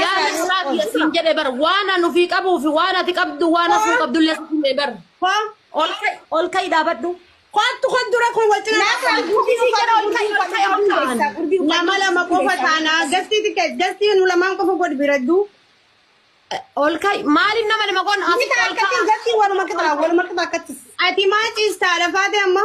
Yaa nasraaf ya siin jedhe bar waan an ufii qabuu fi waan ati qabdu waan hafuu qabdu illee sitti hime bar. Ol ka'i ol ka'i dhaabadhu. Kottu kun dura kun wal cina Nasraaf gurbii sii jedha ol ka'i ol ka'i ol ka'i. Nama lama qofa taana gastii tiket gastii nu lamaan qofa godhi biraddu. Ol ka'i maaliin nama lama qoon Ni ta'a akkatti gastii waluma qixa waluma qixa akkatti. Ati maa ciistaa lafaate amma?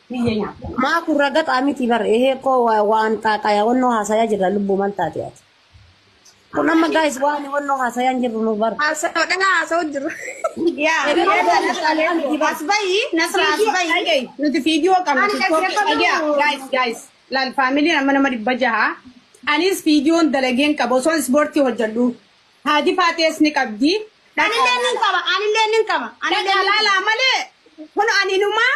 Biyya nyaata. Maa kun ragaxaa miti bar ehee koo wa- waan xaaqayaa wannoo haasayaa jirra lubbuu mal taate ati. Kun amma gaayis waan wannoo haasayaan jirru nu bar. Haasawa kana haasawu jiru. Yaa Egaa egaa waan nasraa haasayaa leetu miti bar. as bayi nasraa as Fiidiyoo bayi dhagayi nuti fiidiyoo qabna Ani tiktookii dhaggeeffadhu. dhagaa gaayis gaayis laal faamiliin amma nama dhibba jaha anis fiidiyoon dalageen qaba osoo ispoortii hojjedhu haadi faatees ni qabdi anillee nin qaba anillee nin qaba anillee dhagaa nin qaba. laalaa malee kun aninumaa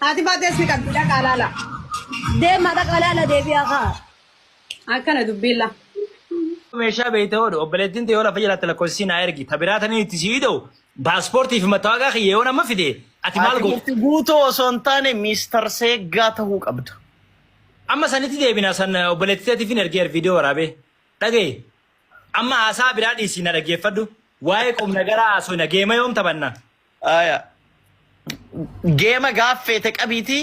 Haati baatees ni qabdi dhaqaa laala. Deemaa dhaqaa laala deebi'aa kaa. Akkana dubbiin laa. meeshaa beeyta oolu obboleettiin tee yoo lafa jalaatte lakkoofsisii naa ergi ta biraa tanii itti sii ta'u paaspoortii fi mattaawaqaa kiyya yoo nama fide ati maal Ati gootu bulti guutuu osoo hin taane Miistar Seeggaa ta'uu qabda. amma sanitti deebina san obboleettii teetiif hin ergeer viidiyoo waraabee dhagaye amma haasaa biraa dhiisii na dhaggeeffadhu waa'ee qubna garaa haasoo na geema yoom taphanna Aya. Geema gaaf feete qabiitii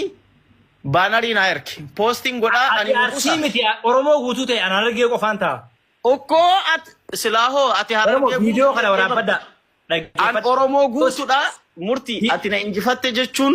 baanarii naa erki. Poostiin godhaa ani Ati hin arsii qusa. miti Oromoo guutuu ta'e anaan argee qofaan ta'a. Okkoo at silaahoo ati Oromoo harargee viidiyoo guutuu kana jettee bar. waraabbadha. An Dhaggeeffadha. Oromoo Post. guutuudha murtii Hi- ati na injifatte jechuun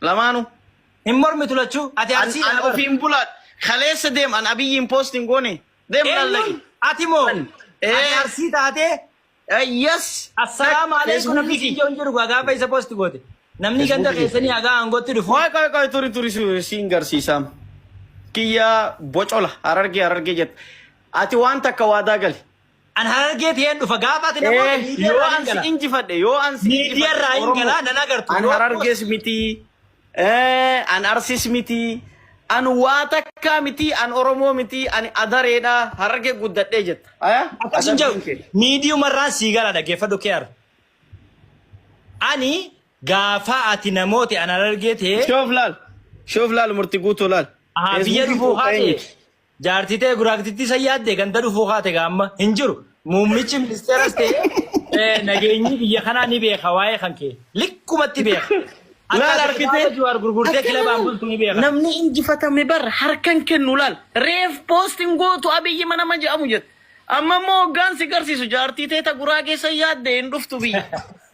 Lamaanu. Hin mormitu lachuu. Ati An, arsiidha an na bar. ofiin bulaa. Kaleessa deem an abiyyiin post hin goone. Deem Eenyuun laallagi. ati moo? An. Ati Ee. arsii taatee Eh, Yes. assalaamu Dhaq, alaikum namni Facebookii. kijjoon jiru gaa gaafa isa posti goote. Namni ganda Facebookii. keessanii hagaa aangootti dhufu. Qoy qoy qoy turi turi si- siin garsiisaam. Kiyya bocola harargee harargee jette. Ati waan takka waadaa gali. An harargee ta'een dhufa gaafa ati namoota Ee, miidiyaa yoo irraa an hin si gala. injifadhe, yoo an si Miidiyaa injifadhe, irraa hin Oromoo. gala nan agartu. An Yoo harargees miti, ee, an arsis miti, an waa takkaa miti, an Oromoo miti, ani adareedha, harargee guddadhee jetta. Aya? Akkas hin Adabbiin kee. jedhu miidiyuma irraan sii gala dhaggeeffadhu keer. Ani gaafa ati namooti an harargee ta'ee Shoof laal. Shoof laal murti guutuu laal. Aha, biyya Feesbuukiin dhufuu koo haadhe. eenyu? Jaartii ta'e guraaktittii san yaadde ganda dhufuu kaate gaa amma hin jiru. Muummichi ministeeras ta'e eh, nageenyi biyya kanaa ni beeka waa'ee kan kee. Likkumatti beeka. Akka Laal ati argitee? kitaaba Jawaar gurgurtee Akkana kilabaan bultu ni beeka. Namni injifatame bar harkan kennu laal. Reef poostiin gootu abiyyi mana ma jedhamu jette. Amma immoo hoggaan si garsiisu jaartii teeta guraa keessa yaadde hin dhuftu biyya.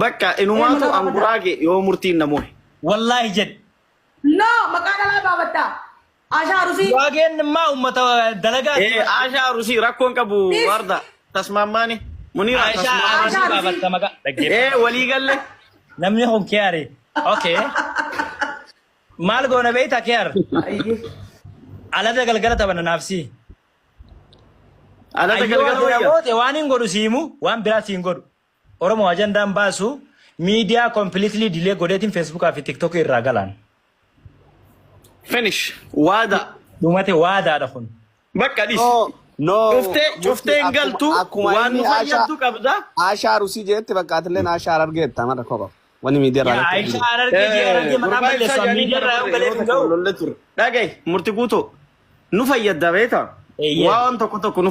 Bakka Ee inumaatu maqaa an baafataa. guraage yoo murtiin na mohe. Wallaahi jedhe. No maqaa dhalaa baafattaa. Ashaa arusii. Guraageen immaa uummata dalagaati. Ee Aashaa Arusii rakkoon qabu Please. warda tasmaammaani. Muniiraa Aishaa tasmaammaani. Arusii Aishaa Arusii. baafatta maqaa. Ee Dhaggeeffadha. walii galle. Namni kun kiyaari. Okay. Maal goona beekta kiyaar? Ayyee. Alada galgala taphana naafsii. Alata Ayyoo galgala ati na wayya. boote waan hin godhu siimu waan biraa siin godhu. Oromo ajandaan baasu media completely delay godheetin Facebook fi TikTok irraa galaan. Finish. Waada. Dhumate waadaadha kun. Bakka dhis. No, no. Cuftee Murti cuftee hin akkuma galtu akkuma waan inni nu Aashaa fayyaddu qabda. Aashaa Rusii jeetti bakka atilleen Aashaa Harargeetta mara koba. Wani miidiyaa irraa Yaa lakkee Aisha jiru. arargee jee arargee maqaan Gurbaa ibsaa balleessaa jedhanii miidiyaa irraa yoo galee hin ga'u. lolle ture. Dhagahi murti guutuu nu fayyadda beektaa? Eeyyee. Waan tokko tokko nu